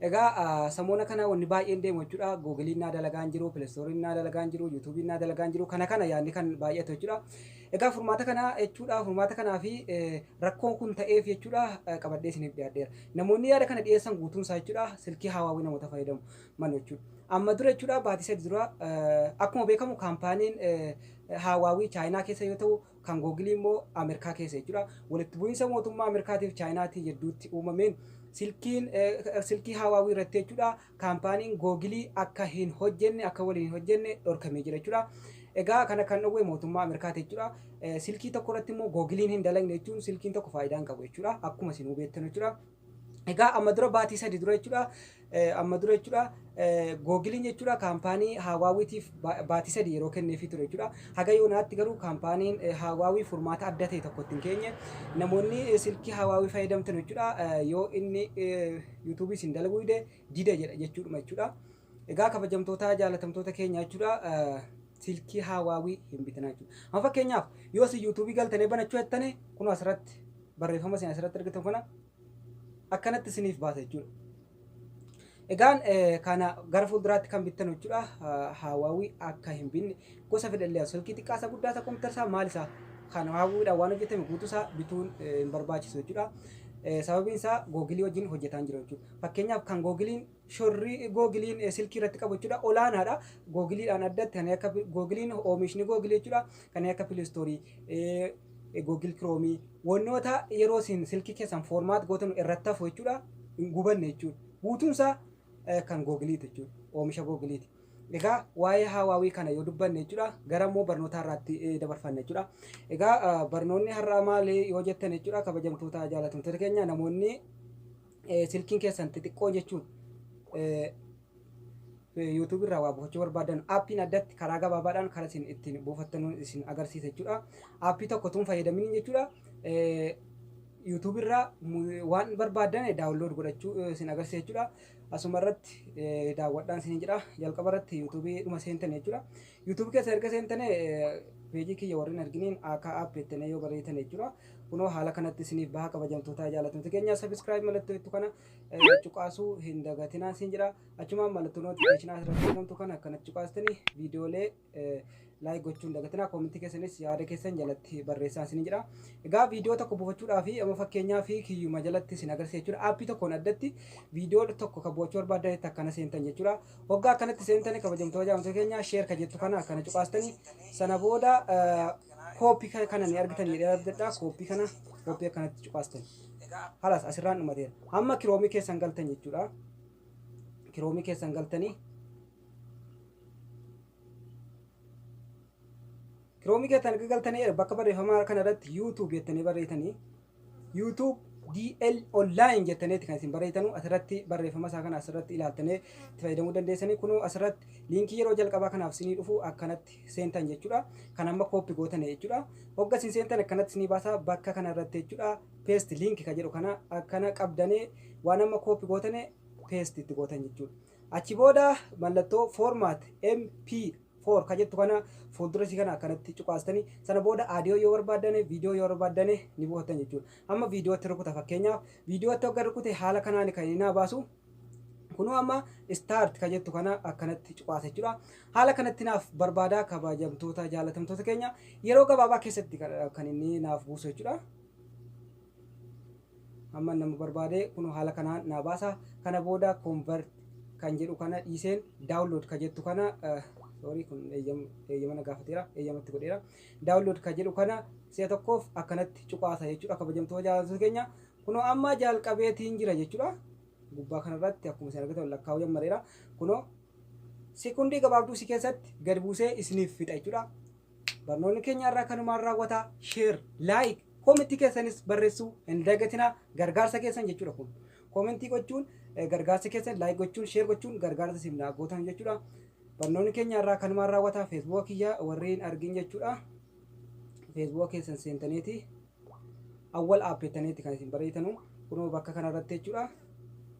Egaa samoona kana wanni baay'een deemu jechuudha. Googiliin naa dalagaa hin jiru, pilestooriin naa dalagaa hin jiru, yuutuubiin naa dalagaa hin jiru. Kana kana yaadni kan baay'atu jechuudha. Egaa furmaata kana jechuudha furmaata kanaa fi rakkoon kun ta'eef jechuudha qabadhee isiniif dhiyaadheera. Namoonni yaada kana dhiyeessan guutuun isaa jechuudha silkii haawaawii namoota fayyadamu malu jechuudha. Amma dura jechuudha baatii sadii dura akkuma beekamu kaampaaniin haawaawii chaayinaa keessa yoo ta'u kan Googilii immoo Amerkaa keessa jechuudha. Walitti bu'iinsa mootummaa Amerkaatiif Chaayinaatii jedduutti uumameen silkiin silkii Haawaawii irratti jechuudha kaampaaniin Googilii akka hin hojjenne akka waliin hin hojjenne dhorkamee jira jechuudha. Egaa kana kan dhowwe mootummaa Amerkaati jechuudha. Silkii tokko irratti immoo Googiliin hin dalagne jechuun silkiin tokko faayidaa hin qabu jechuudha. Akkuma isin hubeettan jechuudha. Egaa amma dura baatii sadi dura jechuudha amma dura jechuudha googiliin jechuudha kaampaanii haawaawitiif baatii sadi yeroo kenneefii ture jechuudha haga yoonaatti garuu kaampaaniin haawaawii furmaata adda ta'e tokko ittiin keenye namoonni silkii haawaawii fayyadamtan jechuudha yoo inni yuutuubii isin dalaguu dide dida jedha jechuudha jechuudha egaa kabajamtootaa jaalatamtoota keenya jechuudha silkii haawaawii hin bitinaa jechuudha. Amma fakkeenyaaf yoo si yuutuubii galtanii banachuu jettanii kun asirratti barreeffama isin asirratti argitan kana akkanatti isiniif baasa jechuudha. Egaan kana gara fuulduraatti kan bittan jechuudha haawaawii akka hin binne gosa fedhallee silkii xiqqaa isa guddaa isa kompiitara isaa maal isaa kan haawaawwiidhaan waan hojjetame guutuu isaa bituun hin barbaachisu jechuudha. Sababiin isaa googilii wajjin hojjetaan jira jechuudha. Fakkeenyaaf kan googiliin shorri googiliin silkii irratti qabu jechuudha olaanaadha. Googiliidhaan addatti kan akka googiliin oomishni googilii jechuudha kan akka pilistoorii googil kiroomii wantoota yeroo isin silkii keessan foormaat gootan irratti hafu jechuudha hin gubanne jechuudha. Guutuun isaa kan googiliiti jechuudha oomisha googiliiti. Egaa waa'ee haawaawii kana yoo dubbanne jechuudha gara immoo barnootaa irratti dabarfanna jechuudha. Egaa barnoonni har'aa maali yoo jettan jechuudha kabajamtoota jaalatamtoota keenya namoonni Eh, silkiin keessan xixiqqoo jechuun eh, YouTube irraa waa buufachuu barbaadan aappiin addatti karaa gabaabaadhaan karaa isin ittiin buufattan isin agarsiisa jechuudha. Aappii tokko tun fayyadamin jechuudha. Eh, YouTube irraa mu- waan barbaadan daawunlood godhachuu eh, isin agarsiisa jechuudha. Asuma irratti eh, daawwadhaan isin jira. Jalqaba irratti YouTube dhuma seentan jechuudha. YouTube keessa erga seentane peejii kiyya warri hin arginiin akka app jettanii yoo barreessitane jechuudha. Kunoo haala kanatti isiniif baha kabajamtootaa jaallatamtoota keenya subscribe mallattoo jettu kana eh, cuqaasuu hin dagatinaa siin jedha. Achumaan mallattoo notification asirratti argamtu kana akkanatti cuqaastanii viidiyoolee eh, like gochuun dagatinaa koomentii keessanis yaada keessan jalatti barreessaa isin jedha. Egaa viidiyoo tokko buufachuudhaa fi amma fakkeenyaa fi kiyyuma jalatti isin agarsiisa jechuudha. Aappii tokkoon addatti viidiyoo tokko kan buufachuu barbaadanitti akkana seentan jechuudha. Hoggaa akkanatti seentani kabajamtu hajaamtota keenya share ka jettu kana akkana cuqaastani sana booda copy kana ni argitan jedhee abdadha copy kana copy akkanatti cuqaastani halas asirraan dhumateera amma kiroomii keessan galtan jechuudha kiroomii keessan galtanii kiroomii keessan erga galtanii bakka barreeffamaa kana irratti youtube jettanii barreessanii YouTube DL online jettaniiti kan isin barreeytanu asirratti barreeffama isaa kana asirratti ilaaltanii itti fayyadamuu dandeessanii kunuu asirratti liinkii yeroo jalqabaa kanaaf sinii dhufu akkanatti seentan jechuudha kan amma kooppi gootane jechuudha hogga isin seentan akkanatti sinii baasaa bakka kana irratti jechuudha peesti liinki ka jedhu kana akkana qabdanii waan amma kooppi gootane peesti itti gootan jechuudha achi booda mallattoo formaat MP 4 ka jettu kana fuuldura isii kana akkanatti cuqaastani sana booda aadiyoo yoo barbaaddane viidiyoo yoo barbaaddane ni buufattan jechuudha amma viidiyootti rukuta fakkeenyaaf viidiyootti wagga rukute haala kanaan kan inni naa baasu kunuu amma istaart ka jettu kana akkanatti cuqaasa jechuudha haala kanatti naaf barbaadaa kabajamtoota jaalatamtoota keenya yeroo gabaabaa keessatti kan inni naaf buusu jechuudha Amman nama barbaade kunoo haala kanaan naa baasa. Kana booda convert kan jedhu kana dhiiseen download ka jettu kana sorry kun eeyyama na gaafateera eeyyama itti godheera. Download ka jedhu kana si'a tokkoof akkanatti cuqaasa jechuudha kabajamtoota jaalattoota keenya. Kunoo amma jalqabeetiin jira jechuudha. Gubbaa kanarratti akkuma isin argitan lakkaa'uu jammareera. Kunoo sekondii gabaabduu si keessatti gad buusee isiniif fixa jechuudha. Barnoonni keenya har'aa kanumaan raawwata. Share, like, comment keessanis barreessuu hin dagatinaa. Gargaarsa keessan jechuudha kun. Comment gochuun gargaarsa keessan, like gochuun, share gochuun gargaarsa isin naa gootan jechuudha. Barnoonni keenya har'aa kanumaan raawwata. Facebook kiyya warri hin argin jechuudha. Facebook keessan seentaniiti. Awwal app jettaniiti kan isin barreessitanu. Kunoo bakka kanarratti jechuudha.